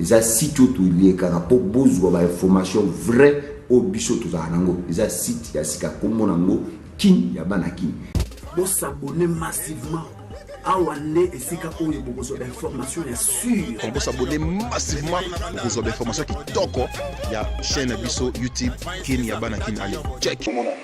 Eza site oyo toliekaka mpo bozwa ba information vrai oyo biso tozalaka nango. Eza site ya sika kombo nango kin ya bana kin. Bo s'abonner massivement awa nde esika oyo bokozwa bainformation ya sur bosabone massivement bokozwa bainformation kitoko ya chaîne ya biso youtube kin ya bana kin ale check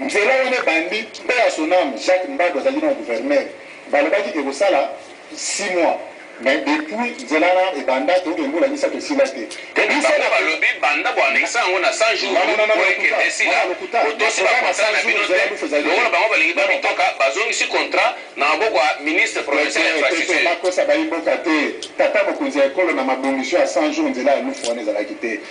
Nzela wana ebandi paix à son ame Jacques Mbadu azalaki nao gouverneur balobaki que ekosala six mois mais depuis nzela wana ebanda toyoka mbula misatu esila te Tete bango balobi banda bo annexer yango na 100 jours po ekende esila botosi ba contrat na bino te lokola bango balingi ba mitoka bazongisi contrat na maboko ya ministre provincial ya infrastructure. Tete bakosa bayi mboka te tata mokonzi ya ekolo na mabongisi oyo ya 100 jours nzela ya Lufu wana ezalaki te.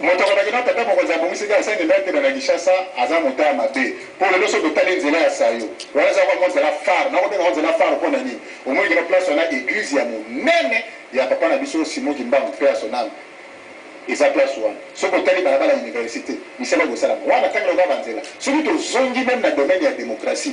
Moto alobaki na tata mokonzi ya bongisi ke asengi ngai kenda na Kinshasa aza moto ya mabe po lelo soki otali nzela ya sayo wana eza lokola mwa nzela phare nako benga yango nzela phare po na nini omoni kino place wana eglise ya monene ya papa na biso Simon kimbangu paix à son ame eza place wana soki otali balabala universite misala eko salama wana tangi lokola ba nzela soki tozongi meme na domaine ya democratie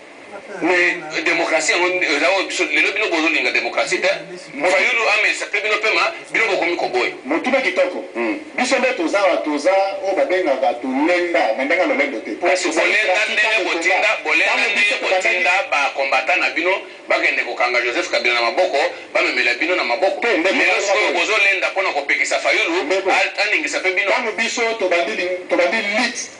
Mais democratie yango eza oyo biso lelo bino bozo linga democratie te fayulu amesa pe bino pema bino bokomi koboya. Motuna kitoko. Biso nde toza awa toza oyo ba bengaka to lenda na ndenge ya lolendo te. Kasi bolenda ndenge botinda bolenda ndenge botinda ba combattants na bino bakende kokanga Joseph Kabila na maboko bamemela bino na maboko lelo sikoyo bozo lenda pona kopekisa fayulu aningisa pe bino. Tango biso tobandi tobandi lutte.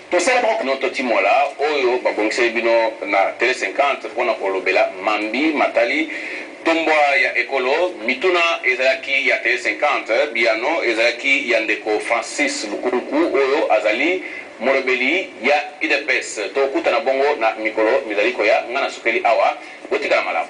Tosala mokano totimola oyo babongiseli bino na Tele 50 mpo na kolobela mambi matali tombwa ya ekolo. Mituna ezalaki ya Tele 50, biyano ezalaki ya ndeko Francis Bukunku oyo azali molobeli ya udps. Tokutana bongo na mikolo mizali koya. Ngai nasukeli awa. Botikala malamu.